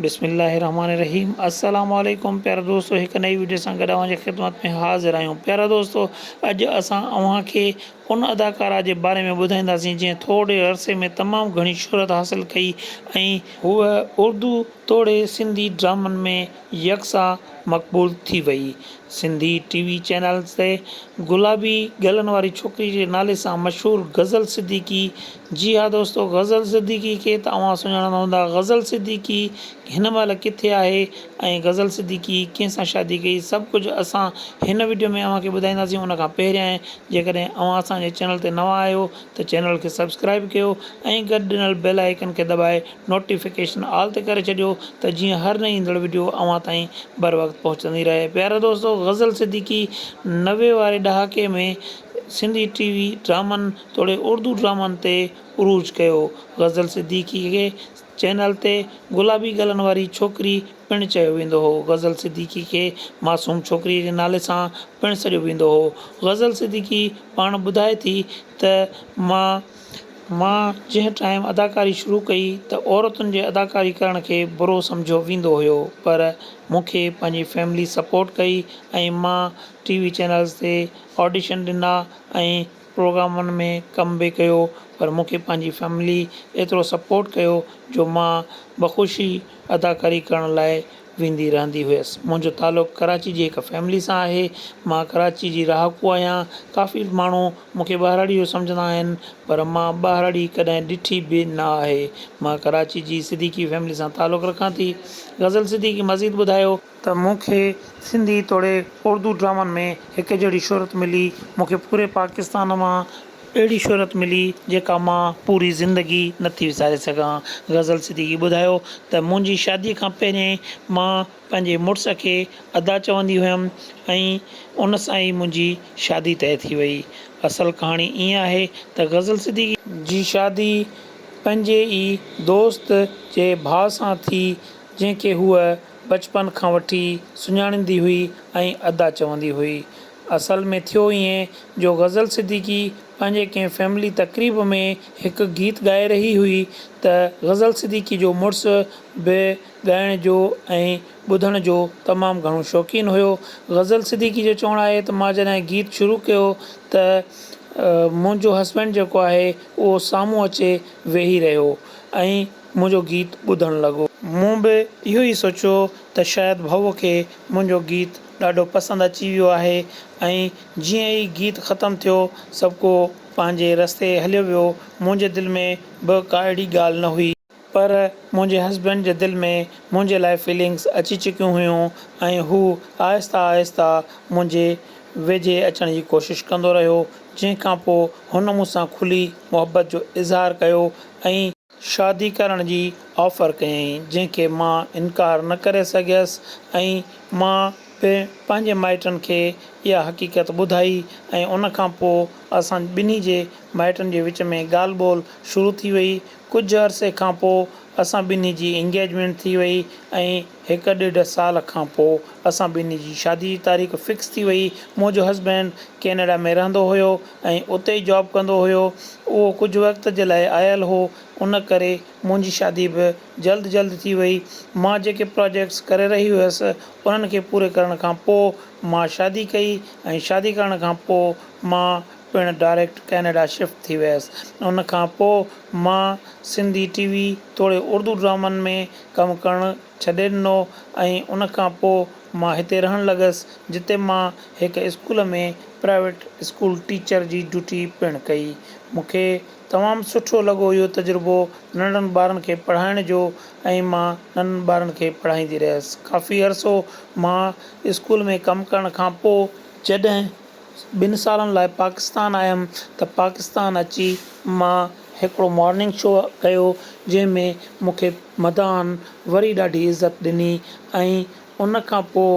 بسم الله الرحمٰن الرحيم السلام عليڪم پيارا دوستو هڪ نئي وڊيو سان گڏ اوهان جي خدمت ۾ حاضر آهيون پيارا دوستو اڄ اسان اوهان کي ان اداڪارا جي باري ۾ ٻڌائينداسين جنهن ٿورڙي عرصي ۾ تمام گهڻي شهرت حاصل ڪئي ۽ هوء اردو توڙي سنڌي ڊرامن ۾ يڪسا مقبول ٿي وئي سنڌي ٽي وي چينلز تي گلابي ڳلن واري ڇوڪري جي نالي سان مشهور غزل صديقي جي ها دوستو غزل صديقي کي ته اوهان سڃاڻندا هوندا غزل صديقي هن مهل ڪٿي آهي ۽ غزل صديقي ڪنهن سان شادي ڪئي سڀ ڪجهه اسان هن وڊيو ۾ اوهان کي ٻڌائينداسين ان کان پهريائين جيڪڏهن اوهان اسان جي چينل تي نوان آهيو ته چينل کي سبسڪرائيب ڪيو ۽ گڏ ڏنل بيل آئيڪن کي دٻائي نوٽيفڪيشن آل تي ڪري ڇڏيو ته جيئن هر نئين ايندڙ وڊيو اوهان تائين بروقت پهچندي رهي پيارا دوستو غزل صديقي نوي واري ڏهاڪي ۾ سنڌي ٽي وي ڊرامن توڙي اردو ڊرامن تي عروج ڪيو. غزل صديقي کي چئنل تي گلابي ڳلن واري ڇوڪري پڻ چيو ويندو هو. غزل صديقي کي معصوم ڇوڪري جي نالي سان پڻ سڏيو ويندو هو. غزل صديقي پاڻ ٻڌائي ٿي ته مان مان جنهن ٽائيم اداڪاري شروع ڪئي ته عورتن جي اداڪاري ڪرڻ کي برو سمجهيو ويندو هيو پر مون کي پنهنجي فيملي سپورٽ ڪئي ۽ مان ٽي وي چئنلز تي آڊيشن ڏنا ۽ پروگرامن ۾ ڪم به ڪيو پر مون کي پنهنجي فيملي ايترو سپورٽ ڪيو جو مان بخوشي اداڪاري ڪرڻ لاء ويندي رهندي هيس منهنجو تعلق ڪراچي جي هڪ فيملي سان آهي مان ڪراچي جي رهاڪو آهيان ڪافي ماڻهو مون کي ٻاهراڙي جو سمجهندا آهن پر مان ٻاهراڙي ڪڏهن ڏٺي به نه آهي مان ڪراچي جي صديقي فيملي سان تعلق رکان ٿي غزل صديقي مزيد ٻڌايو ته مون کي سنڌي توڙي اردو ڊرامن ۾ هڪ جهڙي شهرت ملي، مون کي پوري پاڪستان مان اهڙي شهرت ملي جيڪا مان پوري زندگي نه ٿي وساري سگهان. غزل صديقي ٻڌايو ته منهنجي شادي کان پهرين مان پنهنجي مڙس کي ادا چوندي هيم ۽ ان سان ئي منهنجي شادي طئي ٿي وئي. اصل ڪهاڻي ائين آهي ته غزل صديقي. جي شادي پنهنجي ئي دوست جي ڀاء سان ٿي جنهن کي هوء. بچپن کان وٺي سڃاڻيندي هئي ۽ ادا چوندي هئي. اصل ۾ ٿيو ائين جو غزل صديقي پنهنجي ڪنهن فيملي تقريب ۾ هڪ گيت ڳائي رهي هئي ته غزل صديقي جو مڙس به ڳائڻ جو ۽ ٻڌڻ جو تمام گهڻو شوقين هيو. غزل صديقي جو چوڻ آهي ته مان جڏهن گيت شروع ڪيو ته منهنجو هسبينڊ جيڪو آهي اهو سامهون اچي ويهي رهيو ۽ منهنجو گيت ٻڌڻ لڳو. مون به اهو ئي سوچيو ته شايد ڀؤ کي منهنجو گيت ڏاڍو پسند اچي ويو آهي ۽ جيئن ئي گيت ختم ٿيو سڀڪو پنهنجي رستي هليو ويو. منهنجي دل ۾ به ڪا اهڙي ڳالهه نه هئي. پر منهنجي هسبينڊ جي دل ۾ منهنجي لاء فيلنگس اچي چڪيون هيون ۽ هو آهسته آهسته منهنجي ويجهي اچڻ جي ڪوشش ڪندو رهيو جنهن کانپوء هن مون سان کلي محبت جو اظهار ڪيو ۽ شادي ڪرڻ جي آفر ڪيائين، جنهن کي مان انڪار نه ڪري سگهيس ۽ مان به پنهنجي مائٽن کي اها حقيقت ٻڌائي ۽ ان کان پوء اسان ٻنهي جي مائٽن جي وچ ۾ ڳالهه ٻولهه شروع ٿي وئي. ڪجهه عرصي کان پوء اسان ٻنهي جي انگيجمينٽ ٿي وئي ۽ هڪ ڏيڍ سال کان پوء اسان ٻنهي جي شادي جي تاريخ فڪس ٿي وئي. منهنجو هسبينڊ ڪينيڊا ۾ رهندو هيو ۽ اتي ئي جاب ڪندو هيو. اهو ڪجهه وقت جي لاء آيل هو، ان ڪري منهنجي شادي به جلد جلد ٿي وئي. مان جيڪي پراجيڪٽس ڪري رهي هيس، انهن کي پوري ڪرڻ کان پوء مان شادي ڪئي ۽ شادي ڪرڻ کان پوء مان پڻ ڊائريڪٽ ڪينيڊا شفٽ ٿي ويس. ان کان پوء مان سنڌي ٽي وي توڙي اردو ڊرامن ۾ ڪم ڪرڻ ڇڏي ڏنو ۽ ان کان پوء مان هتي رهڻ لڳس، جتي مان هڪ اسڪول ۾ پرائيويٽ اسڪول ٽيچر جي ڊيوٽي پڻ ڪئي. مون کي تمام سٺو لڳو اهو تجربو ننڍڙن ٻارن کي پڙهائڻ جو ۽ مان ننڍن ٻارن کي پڙهائيندي رهيس ڪافي عرصو مان اسڪول ۾ ڪم ڪرڻ کان پوء جڏهن ٻن سالن لاء پاڪستان آيم ته پاڪستان اچي مان هڪڙو مارننگ شو ڪيو جنهن ۾ مونکي مداحن وري ڏاڍي عزت ڏني ۽ ان کان پوء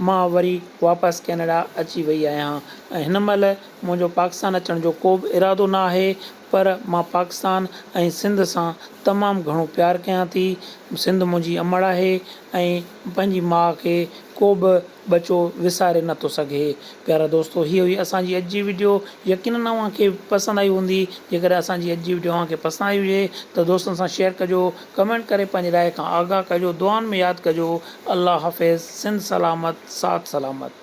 مان وري واپس ڪينيڊا اچي وئي آهيان ۽ هن مهل منهنجو پاڪستان اچڻ جو ڪوبه ارادو ناهي پر مان پاڪستان ۽ سنڌ سان تمام گهڻو پيار ڪيان ٿي، سنڌ منهنجي امڙ آهي ۽ پنهنجي ماء کي ڪو به ٻچو وساري نه ٿو سگهي. پيارا دوستو هيء هئي اسان جي اڄ جي وڊيو يقينن اوهان کي پسند آئي هوندي، جيڪڏهن اسان جي اڄ جي وڊيو اوهان کي پسند آئي هجي ته دوستن سان شيئر ڪجو، ڪمينٽ ڪري پنهنجي راء کان آگاهه ڪجو، دعائن ۾ ياد ڪجو. الله حافظ، سنڌ سلامت، ساٿ سلامت.